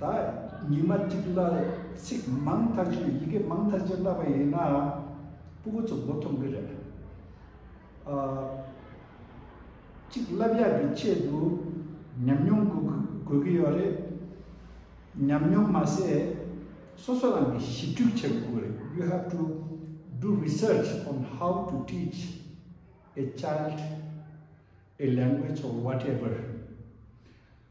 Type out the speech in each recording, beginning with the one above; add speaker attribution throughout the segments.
Speaker 1: ད་ཉི་མ་གཅིག་ལ་ཚིག་མང་ཐག་ཆོད་ཡི་གེ་མང་ཐག་ཆོད་བཀླགས་པ་ཡིན་ན་སྤུ་གུ་ཚོ་མགོ་འཐོམ་གི་རེད། གཅིག་བསླབ་ཡག་གི་ཆེད་དུ་ཉམས་མྱོང་དགོས་ཀྱི་ཡོད་རེད། ཉམས་མྱོང་མ་ཟད་སོ་སོ་རང་གིས་ཞིབ་འཇུག་བྱེད་དགོས་ཀྱི་རེད you have to do research on how to teach a child a language or whatever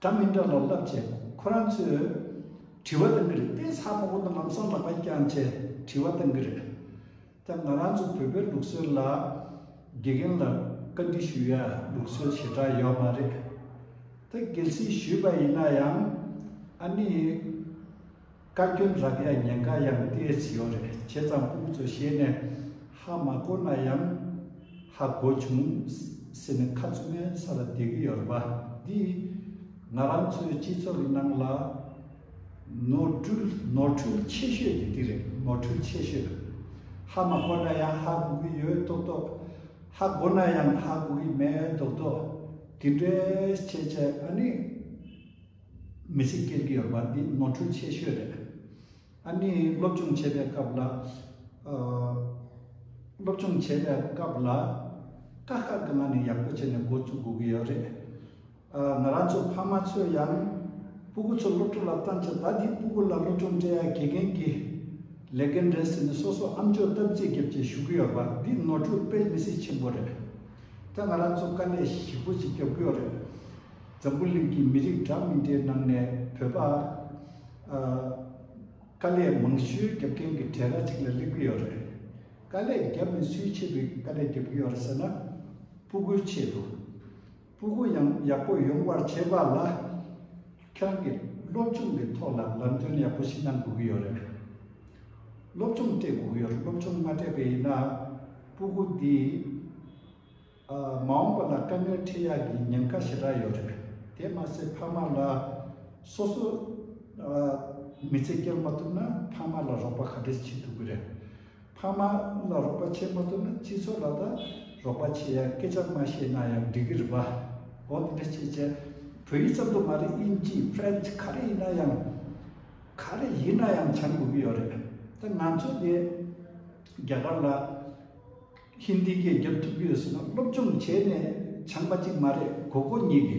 Speaker 1: འདྲ་མི་འདྲ་ལ་བསླབ་བྱའི་ཁོ་རང་ཚོས། དྲི་བ་དང་གི་རིགས་དཔེ་ཚགས་པོ་པོ་དང་ལམ་སང་ལག་པ་བརྐྱངས་བྱས་དྲི་བ་དང་གི་རིགས། ད་ང་རང་ཚོ་བོད་པའི་ལུགས་སྲོལ་ལ། དགེ་རྒན་ལ་བཀའ་འདྲི་ཞུ་ཡ་ལུགས་སྲོལ་ཞེ་དྲག་ཡོད་མ་རེད། ད་གལ་སྲིད་ཞུས་པ་ཡིན་ན་ཡང། ཨ་ནི། བཀའ་བཀྱོན་རག་ཡ་ཉེན་ཁ་ཡང་སྟེར་བྱེད་ཡོད་རེད་བྱས་ཙང་དབུ་གཙོས་བཤད་ནས་ཧ་མ་གོ་ན་ཡང་ཧ་གོ་བྱུང་ཟེར་ནས་ཁ་བཙུམ་མའི་ས་ལ་བསྡད་ཀྱི་ཡོད་རེད་བ་འདིས་ང་རང་ཚོའི་སྤྱི་ཚོགས་ཀྱི་ནང་ལ་ནོར་འཁྲུལ་ནོར་འཁྲུལ་ཆེ་ཤོས་དེ་འདི་རེད་ནོར་འཁྲུལ་ཆེ་ཤོས་ཧ་མ་གོ་ན་ཡང་ཧ་གོ་གི་ཡོད་མདོག་མདོག་ཧ་གོ་ན་ཡང་ཧ་གོ་གི་མེད་མདོག་མདོག་དེ་འདྲའི་བྱས་བྱས་ཨ་ནི། མི་ཚེ་སྐྱེལ་གྱི་ཡོད་པ་འདི་ནོར་འཁྲུལ་ཆེ་ཤོས་རེད། ཨ་ནི་སློབ་སྦྱོང་བྱེད་པའི་སྐབས་ལ། སློབ་སྦྱོང་བྱེད་པའི་སྐབས་ལ། དཀའ་ཁག་གི་ནང་ནས་ཡག་པོ་བྱས་ནས་འགོ་བཙུགས་དགོས་ཀྱི་ཡོད་རེད། ང་རང་ཚོ་ཕ་མ་ཚོས་ཡང། སྤུ་གུ་ཚོ་སློབ་ཕྲུག་ལ་བཏང་ཆ་ད་འདི་སྤུ་གུ་ལ་སློབ་སྦྱོང་སྤྲད་ཡ་དགེ་རྒན་གྱི་ལས་འགན་རེད་ཟེར་ནས་སོ་སོ་ཨམ་ཅོག་སྟབས་རྩེ་བརྒྱབ་ཅེས་ཞུ་གི་ཡོད་པ་འདི་ནོར་འཁྲུལ་དཔེ་མི་སྲིད་ཆེན་པོ་རེད། ད་ང་རང་ཚོ་དཀའ་ལས་ཞིག་པོ་ཅིག་རྒྱབ་ཀྱི་ཡོད་རེད། འཛམ་བུ་གླིང་གི་མི་རིགས་འདྲ་མི་འདྲའི་ནང་ནས་བོད་པ། དཀའ་ལས་མང་ཤོས་རྒྱབ་མཁན་གྱི་གྲས་ར་ཅིག་ལ་སླེབས་ཀྱི་ཡོད་རེད། དཀའ་ལས་རྒྱབ་ནས་སུའི་ཆེད་དུ་དཀའ་ལས་རྒྱབ་ཀྱི་ཡོད་རེད་ཟེར་ན། སྤུ་གུའི་ཆེད་དུ། སྤུ་གུ་ཡང་ཡག་པོ་ཡོང་བར་བྱེད་པ་ལ། ཁྱེད་རང་གི་སློབ་སྦྱོང་གི་ཐོག་ལ་ལམ་སྟོན་ཡག་པོ་ཞིག་གནང་དགོས་ཀྱི་ཡོད་རེད། སློབ་སྦྱོང་སྤྲད་དགོས་ཀྱི་ཡོད་རེད་སློབ་སྦྱོང་མ་སྤྲད་པའི་ཡིན་ན་སྤུ་གུ་འདིས། མ་འོངས་པ་ལ་དཀའ་ངལ་འཕྲད་ཡག་གི་ཉེན་ཁ་ཞེ་དྲག་ཡོད་རེད། དེ་མ་ཟད་ཕ་མ་ལ། སོ་སོ། མི་ཚེ་སྐྱེལ་མ་ཐུབ་ན་ཕ་མ་ལ་རོགས་པ་ག་འདྲས་བྱེད་ཐུབ་ཀྱི་རེད། ཕ་མ་ལ་རོགས་པ་བྱེད་མ་ཐུབ་ན་སྤྱི་ཚོགས་ལ་ད་རོགས་པ་བྱེད་ཡག་སྐད་ཆ་མ་བཤད་ན་ཡང་འགྲིག་གི་རེད་པ། འོ་དེ་འདྲས་བྱེད་བྱེད། བོད་ཡིག་ཙམ་དུ་མ་རེད་དབྱིན་ཇི French ག་རེ་ཡིན་ན་ཡང། ག་རེ་ཡིན་ན་ཡང་བྱ་དགོས་ཀྱི་ཡོད་རེད། ད་ང་ཚོ་འདི་རྒྱ་གར་ལ། ཧིན་དི་སྐད་བསྒྱུར་ཐུབ་རྒྱུ་ཡོད་ཟེར་ན་སློབ་སྦྱོང་བྱས་ནས་སྦྱངས་པ་གཅིག་མ་རེད་གོ་གོ་གཉིས་ཀྱི།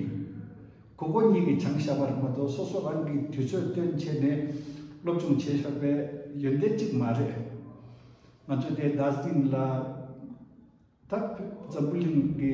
Speaker 1: གོ་གོ་གཉིས་ཀྱི་སྦྱངས་བཞག་པ་རེད་མ་གཏོགས་སོ་སོ་རང་གིས་དུས་ཚོད་བཏོན་བྱས་ནས་སློབ་སྦྱོང་བྱས་ཆོག་པའི་ཡོན་ཏན་གཅིག་མ་རེད། ང་ཚོས་དེ་ཟླ་ཟིང་ལ་ད་འཛམ་བུ་གླིང་གི།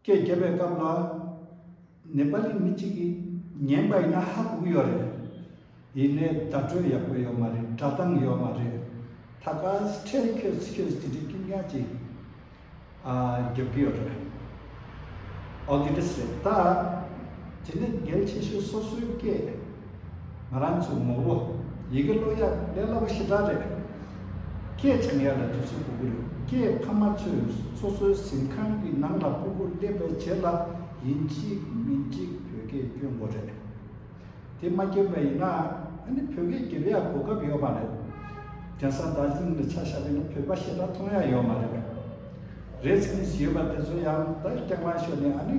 Speaker 1: སྐད་བརྒྱབ་པའི་སྐབས་ལ། ནེ་པ་ལི་མི་གཅིག་གིས་ཉན་པ་ཡིན་ན་ཧ་གོ་གི་ཡོད་རེད། ཡིན་ནའི་བརྡ་སྤྲོད་ཡག་པོ་ཡོད་མ་རེད་སྒྲ་གདངས་ཡོད་མ་རེད། ད་ག་ཚད་ཁྱོད་ཚོས་དེ་འདྲའི་སྐྱིན་ཉག་ཅིག་བརྒྱབ་གི་ཡོད་རེད། ཨོ་དེ་འདྲ་སེ་ད། དེ་ནི་འགལ་ཆེ་ཤོས་སོ་སོའི་སྐད། ང་རང་ཚོའི་ངོ་བོ། ཡི་གེ་བློ་ཡག་ལས་སླ་པོ་ཞེ་དྲག་རེད། སྐད་ཆ་ངས་ལ་དུས་ཚོད་སྤུ་གུ་རེད་སྐད་ཕ་མ་ཚོས་སོ་སོའི་གཟིམ་ཁང་གི་ནང་ལ་སྤུ་གུ་སླེབས་པའི་རྗེས་ལ་ཡིན་གཅིག་མིན་གཅིག་བོད་སྐད་སྐྱོན་དགོ་རེད། དེ་མ་སྐྱོན་པ་ཡིན་ན་ནི་བོད་སྐད་སྒྱེ་བ་ཡག་གོ་སྐབས་ཡོད་མ་རེད། རྒྱ་ས་དར་ཛིང་ལ་ཆ་ཤ་བས་ན་བོད་པ་ཞེ་དྲག་མཐོང་ཡག་ཡོད་མ་རེད། རེད་སེམས་ཡོད་པ་དེ་ཚོ་ཡང་ད་སྐྱག་ལངས་ཤོར་ནས་ཨ་ནི།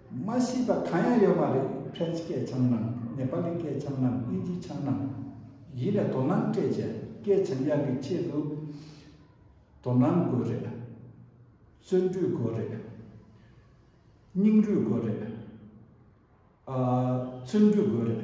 Speaker 1: མ་ཤེས་པ་གང་ཡང་ཡོད་མ་རེད་ཕྲན་སྐད་ཆའམ་ནང་ནེ་པ་ལི་སྐད་ཆའམ་ནང་དབྱིན་ཇི་ཆའམ་ནང། ཡིན་ལ་དོ་སྣང་སྤྲད་བྱས་སྐད་ཆའམ་དབྱངས་ཀྱི་ཆེད་དུ་དོ་སྣང་དགོས་རེད། བརྩོན་འགྲུས་དགོས་རེད། སྙིང་རུས་དགོས་རེད། བརྩོན་འགྲུས་དགོས་རེད།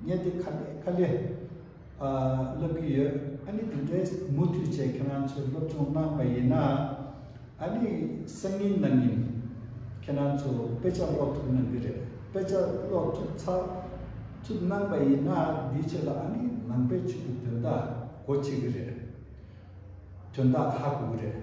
Speaker 1: བརྙན་དེ་ཁ་བརྡའི་དཀའ་ལས་བསླབ་ཀྱི་ཡོད་ཨ་ནི་དེ་འདྲའི་མུ་མཐུད་བྱས་ཁྱེད་རང་ཚོས་སློབ་སྦྱོང་གནང་བ་ཡིན་ན་ཨ་ནི་སང་ཉིན་གནངས་ཉིན་ཁྱེད་རང་ཚོ་དཔེ་ཆ་ཀློག་ཐུབ་གནང་གི་རེད་དཔེ་ཆ་ཀློག་ཐུབ་ཚར་ཐུབ་གནང་བ་ཡིན་ན་དེའི་ཆེད་ལ་ཨ་ནི་ནང་པའི་ཆོས་ཀྱི་དོན་དག་གོ་བྱེད་ཀྱི་རེད་དོན་དག་ཧ་གོ་གི་རེད།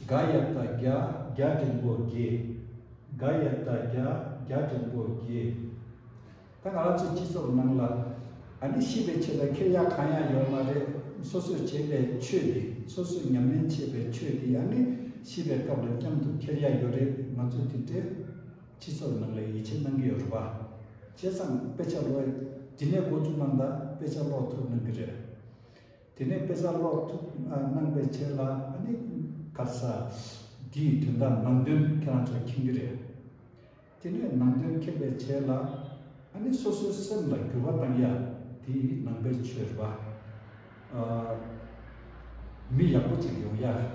Speaker 1: དགའ་ཡབ་དང་རྒྱ་རྒྱ་འབྲིང་པོ་དགྱེས། དགའ་ཡབ་དང་རྒྱ་རྒྱ་འབྲིང་པོ་དགྱེས། ད་ང་ལ་ཚོའི་སྤྱི་ཚོགས་ནང་ལ་ཨ་ནི་ཤི་བའི་ཆེད་ལ་ཁེར་ཡག་གང་ཡང་ཡོད་མ་རེད་སོ་སོས་བྱས་པའི་ཆོས་འདི་སོ་སོས་ཉམས་ལེན་བྱས་པའི་ཆོས་འདི་ཨ་ནི་ཤི་བའི་སྐབས་ལ་མཉམ་དུ་ཁེར་ཡག་ཡོད་རེད་ང་ཚོས་དེ་འདྲའི་སྤྱི་ཚོགས་ནང་ལ་ཡིད་ཆེས་གནང་གི་ཡོད་རེད་བ། བྱས་ཙང་དཔེ་ཆ་ལོས་ཇི་ནས་གོ་རྒྱུ་རྣམས་དག་དཔེ་ཆ་ཀློག་ཐུབ་གནང་གི་རེད། དེ་ནས་དཔེ་གསར་ཀློག་ཐུབ་གནང་པའི་ཆེད་ལ་ཨ་ནི་སྐར་ས་འདིའི་དོན་དག་ནང་དོན་ཁྱེད་རང་ཚོ་མཁྱེན་གྱི་རེད། དེ་ནས་ནང་དོན་མཁྱེན་པའི་ཆེད་ལ་ཨ་ནི་སོ་སོའི་སེམས་ལ་འགྱུར་བ་བཏང་ཡ་དེ་ནང་པའི་ཆོས་རེད་པ། མི་ཡག་པོ་ཅིག་ཡོང་ཡ་རེད།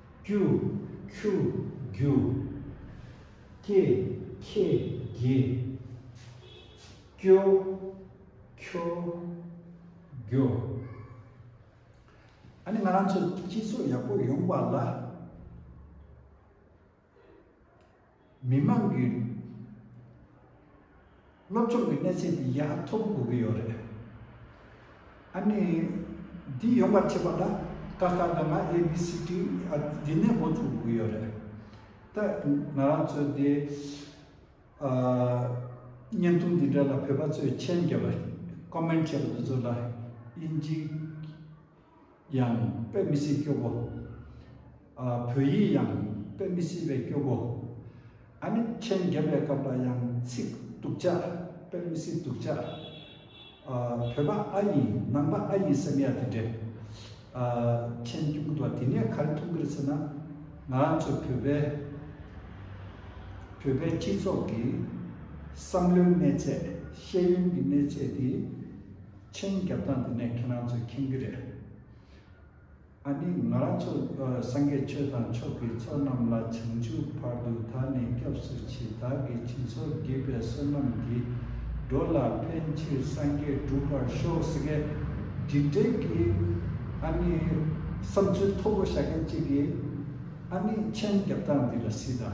Speaker 1: ཀྱུ། ཁྱུ། རྒྱུ། སྐྱེ། ཁྱེད། དགེ། སྐྱོ། ཁྱོ། རྒྱོ། ཨ་ནི་ང་རང་ཚོ་སྤྱི་ཚོགས་ཡག་པོ་ཡོང་བ་ལ། མི་དམངས་ཀྱི་སློབ་སྦྱོང་གི་གནས་ཚད་དེ་ཡ་མཐོ་པོ་དགོས་ཀྱི་ཡོད་རེད། ཨ་ནི་འདི་ཡོང་བར་བྱེད་པ་ལ་ཀ་ཁ་ག་ང་ཨེ་བྷི་སི་ཏི་འདི་ནས་འགོ་བཙུགས་དགོས་ཀྱི་ཡོད་རེད། ད་ང་རང་ཚོས་དེ་བརྙན་ཐུང་འདི་འདྲ་ལ་བོད་པ་ཚོས་མཆན་བརྒྱབ་པ Comment བྱས་པ་དེ་ཚོ་ལ་དབྱིན་ཇི། ཡང་དཔེ་མི་སྲིད་སྐྱོ་པོ། བོད་ཡིག་ཡང་དཔེ་མི་སྲིད་པའི་སྐྱོ་པོ། ཨ་ནི་མཆན་བརྒྱབ་པའི་སྐབས་ལ་ཡང་ཚིག་སྡུག་ཅག་དཔེ་མི་སྲིད་སྡུག་ཅག། བོད་པ་ཨ་ཡིན་ནང་པ་ཨ་ཡིན་སེམས་ཡ་དེ་འདྲས། མཆན་སྐྱོ་མི་འདུག་བ་དེ་ནས་ག་རེ་མཐོང་གིར་ཟེར་ན། ང་རང་ཚོ་བོད་པའི་བོད་པའི་སྤྱི་ཚོགས་ཀྱི་བསམ་བློའི་གནས་ཚད་ཤེས་ཡོན་གྱི་གནས་ཚད་དེ། མཆན་རྒྱབ་སྟངས་དེ་ནས་ཁྱེད་རང་ཚོས་མཁྱེན་གྱི་རེད། ཨཱ་ནི་ང་རང་ཚོ་སངས་རྒྱས་ཆོས་དང་མཆོག་གི་ཚོགས་རྣམས་ལ་བྱང་ཆུབ་བར་དུ་ད་ནི་སྐྱབས་སུ་མཆི་བདག་གི་བྱིན་ཟོར་བགྱིས་པའི་བསོད་ནམས་འདི། འགྲོ་ལ་ཕན་ཕྱིར་སངས་རྒྱས་འགྲུབ་པར་ཤོག་ཟེར་སྐད། དྲིན་བྲལ་གྱི་ཨཱ་ནི་བསམ་ཚུལ་མཐོ་པོ་བྱ་མཁན་གཅིག་གིས། ཨཱ་ནི་མཆན་རྒྱབ་སྟངས་འདི་ལ་སྲིད་ད།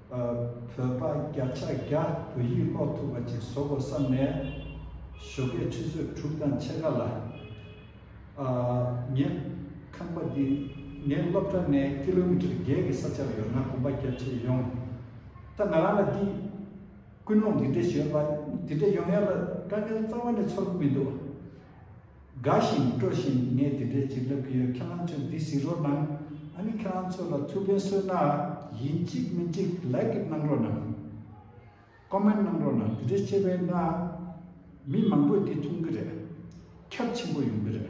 Speaker 1: བོད་པ་བརྒྱ་ཆ་བརྒྱ་བོད་ཡིག་ཀློག་ཐུབ་པ་ཅིག་བཟོ་དགོས་བསམ་ནས། ཞོགས་པའི་ཆུ་ཚོད་དྲུག་དང་ཕྱེད་ཀ་ལ། ངས་ཁང་པ་འདི་ངའི་སློབ་གྲྭ་ནས་ཀི་ལོ་མི་ཀྲེར་བརྒྱད་ཀྱི་ས་ཆར་ཡོད་ན་གོམ་པ་བརྒྱབ་ཆེད་ཡོང། ད་ང་རང་ལ་འདིས་ཀུན་སློང་འདི་འདྲ་ཞུས་པ་འདི་འདྲ་ཡོང་ཡ་ལ་དཀའ་ངལ་རྩ་བ་ནས་ཚོར་གི་མི་འདུག། དགའ་ཞིང་སྤྲོ་བཞིན་ངས་དེ་འདྲའི་བྱིན་རླབས་ཀྱི་ཡོད་ཁྱེད་རང་ཚོས་འདི་ཟིན་རོགས་གནང། ཨ་ནི་ཁྱེད་རང་ཚོ་ལ་ཐུགས་ཕན་གསོས་གནང། ཡིན་གཅིག་མིན་གཅིག Like ཨིད་གནང་རོགས་གནང། Comment གནང་རོགས་གནང་དེ་འདྲའི་ཆེ་བའི་གནང། མི་མང་པོས་འདི་མཐོང་གི་རེད། ཁྱབ་ཆེན་པོ་ཡོང་གི་རེད།